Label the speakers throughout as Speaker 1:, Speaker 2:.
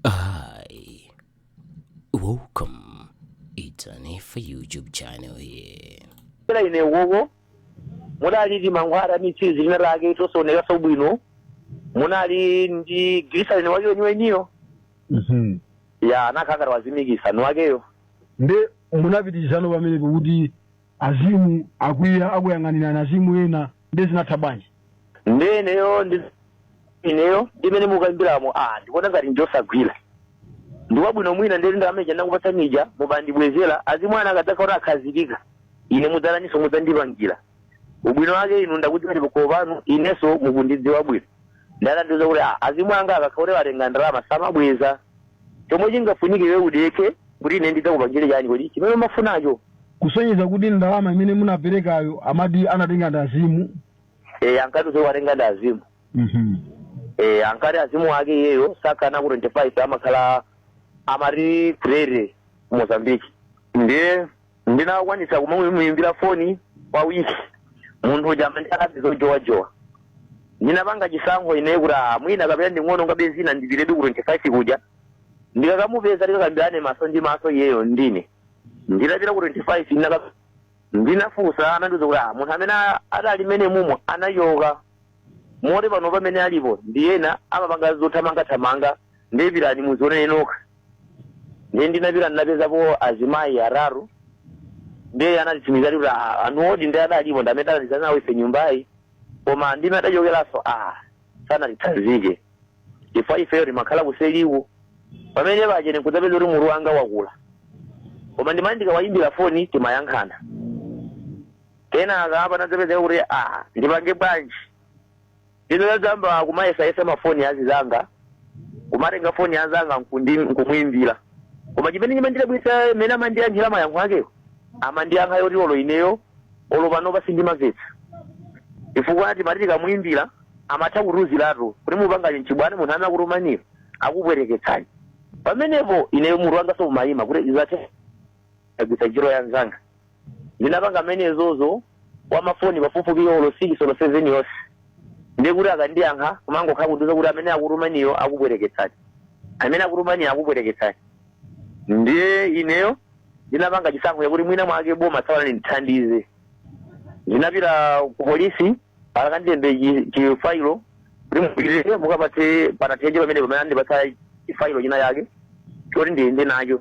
Speaker 1: Hi, welcome. It's an Efa YouTube channel here. kila ine
Speaker 2: wowo munali ndi mankhwala mitsitsi tina take tosaonekaso bwino munali ndi gilisalini wake weniweniyo Mhm. ya anakhangala wazimikisa ni wakeyo nde
Speaker 3: munapitizano pamenepo kuti Azimu akwiya akuyang'anirana azimu ena nde zinatha bwanji? Nde
Speaker 2: ineyo ndi ineyo ndi mene mukambilamo aa ndikuona ngati njosagwila ndikwabwino mwina nde ndalama ija ndinakupatsani ija mubandibwezela azimu anu akadzakhala kuti akhazikika ine mudzataninso mudzandipangila ubwino wake inu ndakudziwani pakhomo panu ineso mukundidziwa bwino Ndiye anandiuza kuti ah, azimu anga akakhala kuti watenga ndalama samabweza. Chomwe chingafunike iwe udekhe kuti ine ndidzakupangire chani kodi chimene umafunacho. kusonyeza kuti
Speaker 3: ndalama imene munaperekayo amati anatenga ndi azimu Eh,
Speaker 2: ankati usiku watenga ndi azimu. Mhm. Eh, ankati azimu ake iyeyo sakhala ku 25 amakhala amati ku Tete Mozambique. Ndiye ndinakwanitsa kumuimbira foni kwa wiki munthu uja amandiyankha zojowajowa ndinapanga chisankho ineyo kuti ah, mwina kapena nding'ono ngabe zina ndipitedi ku 25 kuja ndikakamupeza tikakambirane maso ndi maso iyeyo ndi ine nditapita ku 25 ndinaka ndinafunsa anandiuza kuti ah, munthu amene a- adali mene mumo anachoka moti pano pamene alipo ndi ena amapanga zothamangathamanga nde pitani muzione nokha ndiye ndinapita ndinapezapo azimayi atatu ndiye anatitsimikizira kuti "Ah, anthuwodi nde adalipo ndi amene talandizana nawo ife nyumbayi koma mmene adachokeranso a sanatitsanzike chifukwa ifeyo timakhala kuseliku pamene pache ndikudzapeza kuti mutu wanga wakula koma ndimati ndikawayimbira foni timayankhana kenaka panadzapezeka kuti a ndipange bwanji Ndinadzayamba kumayesayesa mafoni azizanga, kumatenga foni ya nzanga nkundi nkumuimbila. Koma chimene chimandidabwitsa mene amandiyankhila mayankho akewo, amandiyankha yoti olo ineyo olo panopa sindimamvetsa. Chifukwa timati tikamuimbila amatha kutiuzilatu kuti mupangani nchibwana munthu amene akutumaniyo akupweteketsani. Pamenepo ineyo mutu wangaso umaima kuti zathe ndagwiritsa ntchito ya nzanga. ndinapanga zimenezozo kwa mafoni pafupifupi olo 6 olo 7 yonse ndikuti akandiyankha kumangokhala kundiuza kuti amene akutumaniyo akupweteketsani amene akutumaniyo akupweteketsani ndiye ineyo ndinapanga chisankho chakuti mwina mwake boma tsawana ndithandize ndinapita ku polisi akandilembe chi- chifailo kuti mupite mukapatse pa Nathenje pamene pamene andipatsa chifailo china chake choti ndiyende nacho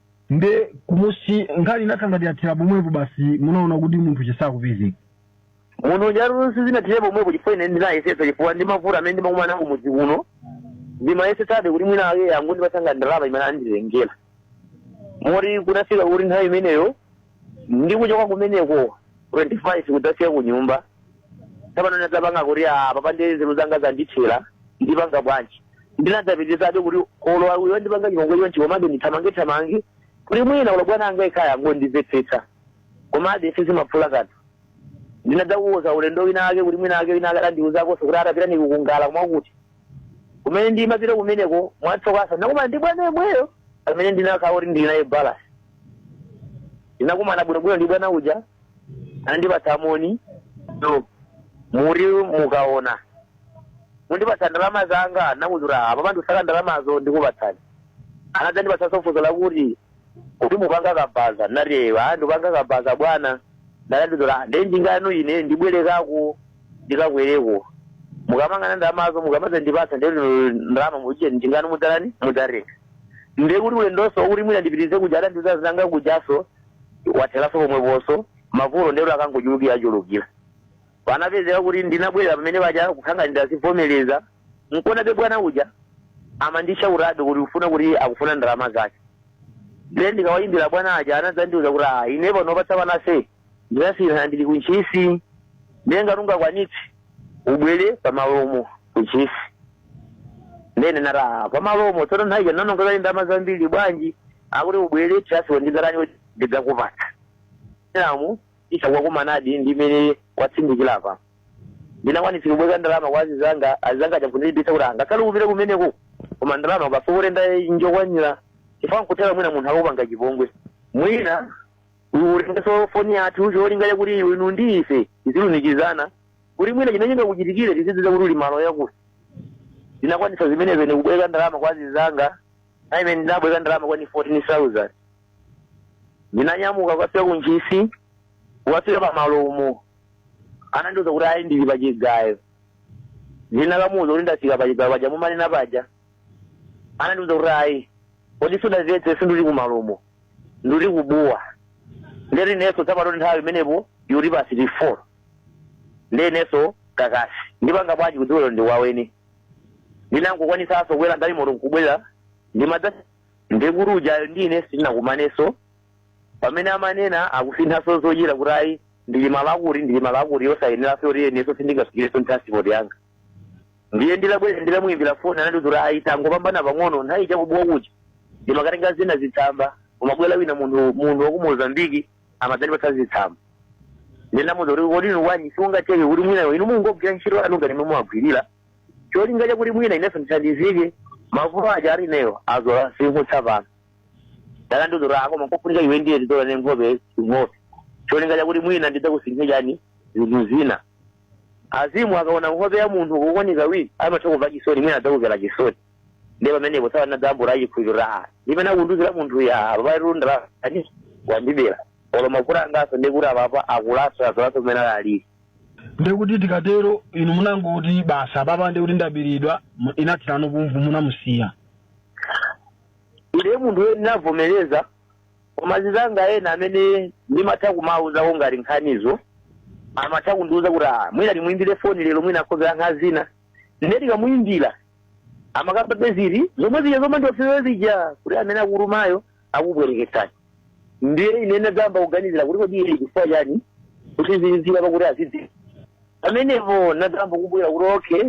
Speaker 3: nde kumudzi nkhani inakhala ngati yathera pomwepo basi munaona kuti munthu sakupezeka munthu
Speaker 2: uja lusi zinathera pomwepo chifukwa ine ndinayesetsa chifukwa ndi mavuto amene ndimakumana nawo kumudzi kuno ndimayesetsabe kuti mwina angondipatsako ndalama imene anditengera moti kunafika kuti nthawi imeneyo ndi kuchoka kumeneko 25 kudzafika ku nyumba tsapano ndinadzapanga kuti apapa ndiye nzeru zanga zandithera ndipanga bwanji ndinadzapitizabe kuti olo uyo wandipanga chipongwe chonchi komabe ndithamange thamange kuti mwina olo bwana anga kaya angondimvetsetsa komabe sizimaphula kanthu ndinadzakuuza ulendo wina ake kuti mwina ake wina ake adandiuzakonso kuti atapita nikukungala koma kuti Kumene ndimapita kumeneko, mwatsokaso ndinakumana ndi bwana yemweyo amene ndinakhala kuti ndili naye balasi. Ndinakumana bwinobwino ndi bwana uja, anandipatsa moni, muli mukaona mundipatsa ndalama zanga, ndinamuuza apapa ndisaka ndalamazo ndikupatsani. Anadzandipatsaso funso lakuti kuti mupanga kabaza nati eyo a ndipanga kabaza bwana ndalandizola nde njinga yanu ine ndibwerekako ndikakwereko mukamanga ndalamazo mukamadzandipatsa nde ndalama mucheni njinga yanu mudzalani mudzatenga nde kuti ulendonso kuti mwina ndipitirize kuja adandiuza zanga kujaso watheraso pomweponso mavuto ndero akungochulukirachulukira panapezeka kuti ndinabwerera pamene paja kukhanga ndidazivomereza mukuonabe bwana uja amandishaurabe kuti ufuna kuti akufuna ndalama zake nde ndikawayimbira bwana aja anadzandiuza kuti ah ine panopa tsa panase ndinasiyana ndili ku ntchisi ndiye ngati ungakwanitse ubwere pamalomo ku ntchisi ndene nati ah pamalomo tsono nthawi ija nanongozali ndalama zambiri bwanji akuti ubwere tiyasiwo ndizakani ndidzakupatsa namu isakuwakumanadi ndimene watsindikira apa Ndinakwanitsa kubweleka ndalama kwa azizanga, azizanga aja nkundilimbitsa kuti ah, ngakhale upite kumeneko koma ndalama ukasokole ndalama yokwanira chifukwa nkutheka mwina munthu akupanga chipongwe mwina utengeso foni yathu cholinga chakuti iwe inu ndi ife tizilumikizana kuti mwina chimene chingakuchitikire tizidziwa kuti uli malo yakuti ndinakwanitsa zimenezo ndikubweleka ndalama kwa azizanga aja imene ndinabweleka ndalama kwani 14000 ndinanyamuka kukafika ku ntchisi kukafika pa malomo anandiuza kuti ayi ndili pa chigayo ndinakamuuza kuti ndafika pa chigayo paja mumanena paja anandiuza kuti ayi kodi sudandimvetse sinduli ku malomo nduli kubuwa nde ineso tsapano nthawi imenepo ili past four ndi ineso kakasi ndipanga bwanji kudziweko ndi kwa eni ndinangokwanisaso kukwera galimoto nkubwera ndimadza ndiye kuti ujayo ndi ine sitinakumanenso pamene amanena akusinthanso zochita kuti ayi ndili malo akuti ndili malo akuti osayenera poti inenso sindingafikirenso thiransipoti yanga ndiye ndinabwera ndinamuyimbira foni anati kuti ayi tangopambana pang'ono nthawi chakubuwa kuja ndimakatenga zina zitsamba umabwera wina munthu munthu wa ku mozambiki amadzandipatsa zitsamba ndinamuuza kuti kodi inu wanyi sizingatheke kuti mwinayo inu mungogwira ntchito yanu ngati momwe mumagwirira cholinga chakuti mwina inenso ndithandizike mafuta aja ali ineyo azola sinkutsa pano dala ndidzola ako amafunika iwe ndiye udzola kunkhope nkhope cholinga chakuti mwina ndidzakusinthe chani zinthu zina azimu akaona nkhope ya munthu kawirikawiri amatha kumva chisoni mwina adzakumvera chisoni ndiye pamenepo sawa nadzambura achikhulupiriro chimene akundiuzira munthu ya apapairundra wandibera olo mavuto anganso ndikuti apapa akulanso adzolanso kumene alili
Speaker 3: Ndekuti tikatero inu munangoti basi apapa ndekuti ndaberedwa mu- inathera pomwepo
Speaker 2: munamusiya. Ine munthu wene ndinavomereza koma azinzanga ena amene ndimatha kumawuzawo ngati nkhanizo amatha kundiwuza kuti "Ah, mwina timuyimbire foni lero mwina akhoza kuyankha zina nde tikamuyimbira amakambabe zili zomwe zija zomwe ndiofewa zija kuti amene akutumayo akubwereketsani ndiye ine ndinadzayamba kuganizira kuti kodi iye chifukwa chani kuti zizira pakuti azidzi pamenepo ndinadzayamba kumvera kuti okay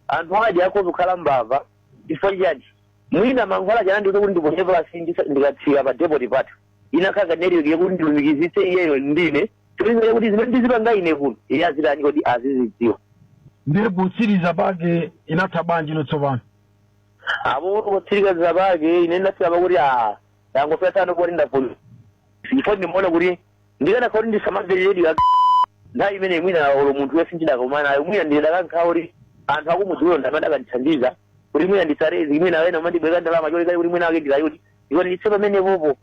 Speaker 2: anthu awadi akhoza kukhala mbava chifukwa chani mwina mankhwala chana ndiye kuti ndiponye pansi ndisa- ndikatsika pa depoti pathu inakhala njira yoti ndilumikizitse iyeyo ndi ine cholinga kuti zimene ndizipanga ine kuno iye azitani kodi azizidziwa ndiye
Speaker 3: potsiriza pake inatha bwanji inu tsopano
Speaker 2: apo potsiriza pake ine ndinafika pakuti a ndangofika tsono poti ndavulu ndipo ndimaona kuti ndikanakhala kuti ndisamamvere redio pa nthawi imene mwina olo munthu wese sindikadakumana naye mwina ndikadakhala kuti anthu akumudziwo ndamene akanandithandiza kuti mwina ndisarezi mwina wena amandibwereka ndalama cholinga kuti mwina wake ndikayuti ndipo nditse pamenepopo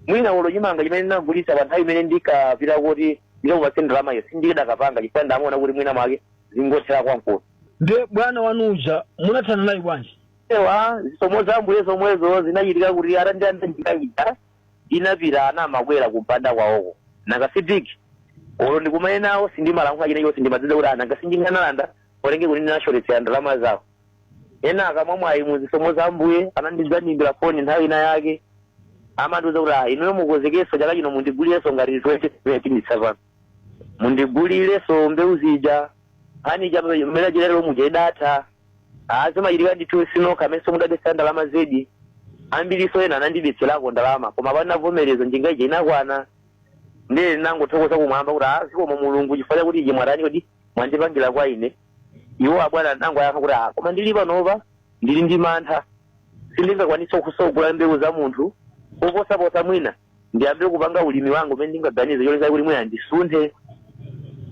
Speaker 2: mwina olo chimanga chimene ndinagulitsa pa nthawi imene ndikapita kuti ndikampatse ndalamayo sindikadapanga chifukwa ndimaona kuti mwina mwake zingothera kwankuno Ndiye
Speaker 3: bwana wanu uja munathana naye bwanji? ewa
Speaker 2: zisomo za mbuye zomwezo zinachitika kuti atandianda ndikaitana inapita anamapita kumpanda kwawoko nanga sipiki olo ndikumane nawo sindimalankhula china chilichonse ndimadziwa kuti a nanga sindingalankhule olo nje kuti ndinashotetsera ndalama zawo eya koma mwamwayi mu zisomo za mbuye anadzandiimbira foni nthawi ina yake amandiuza kuti ah inuyo mukonzekenso chaka chino mundigulire ngati 20 tsopano mundigulireso mbewu zija nkhani ija mmene achilero muja idatha azimachitika ndithu sinokha amene mudabetsa ndalama zedi ambiriso ena anandibetserako ndalama koma panavomereza njinga ija inakwana ndiye ndinangothokoza kumwamba kuti "Ah, zikomo mulungu chifukwa chakuti ije mwatani kodi mwandipangira kwa ine iwo abwana anangoyankha kuti "Ah, koma ndili panopa ndili ndi mantha sindingakwanitsenso kugula mbewu za munthu koposaposa mwina ndiyambe kupanga ulimi wanga umene ndingaganize cholinga kuti mwina ndisunthe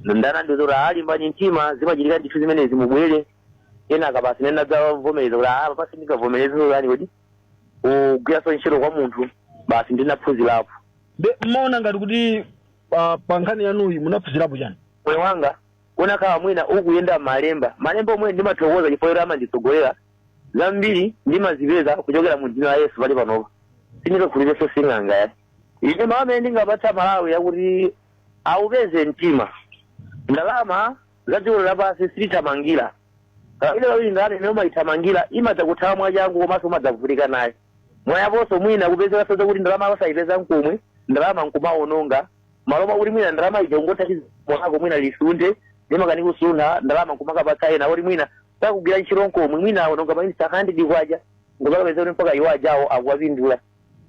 Speaker 2: ndiye anandiuza kuti alimbani mtima zimachitika ndithu zimenezi mubwere ena ake basi ndinadzavomereza kuti apa basi ndingavomereze zoyani kodi kugwiranso ntchito kwa munthu basi ndinaphunzirapo nde
Speaker 3: mmaona ngati kuti pa, pa nkhani yanuyi munaphunzirapo chani moyo wanga
Speaker 2: unakhala mwina ukuyenda malemba malemba omwe ndimathokoza chifukwa kuti amanditsogolera zambiri ndimazipeza kuchokera mu dzina la yesu pakali panopa sindikukhulupiriranso sing'anga ayi ine mawu amene ndingapatse amalawi ndi akuti aupeze mtima ndalama za dziko lapansi sitithamangira kawiri kawiri ndalama imene umayithamangira imadza kuthawa mwachangu komanso umadzavutika naye mwapanso mwina kupezeka zoti ndalama yosayipeza nkomwe ndalama nkumawononga mmalo moti mwina ndalama ija ungothandiza mwako mwina usunge ndimakani kusunga ndalama nkumakapatsa ena kuti mwina sakugwira ntchito nkomwe mwina awononga mwinanso 100 kwacha nkungokapeza kuti mpaka iwo ajawo akuwapindula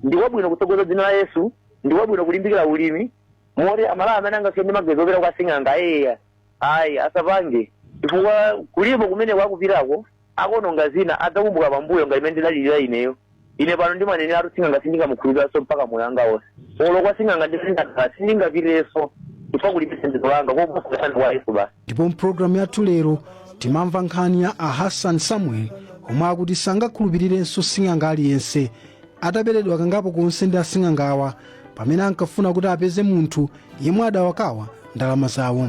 Speaker 2: ndikwabwino kutsogoza dzina la yesu ndikwabwino kulimbikira ulimi moti amalawi amene angakhale ndi maganizo opita kwa sing'anga eya ayi asapange chifukwa kulipo kumene akupitako akaononga zina adzakumbuka pambuyo ngati mmene ndinalilira ineyo Ine pano ndimaneneratu sing'anga sindingamukhulupiriranso mpaka moyo wanga wonse. Olo kwa sing'anga ndimene ndakhala sindingapitirenso chifukwa kulibe thandizo langa koposana kwa Yesu basi. ndipo mpulogalamu yathu
Speaker 4: lero timamva nkhani ya a hassan samuel omwe akuti sangakhulupirirenso sing'anga aliyense ataberedwa kangapo konse ndi asing'angawa pamene ankafuna kuti apeze munthu yemwe adawakwawa ndalama zawo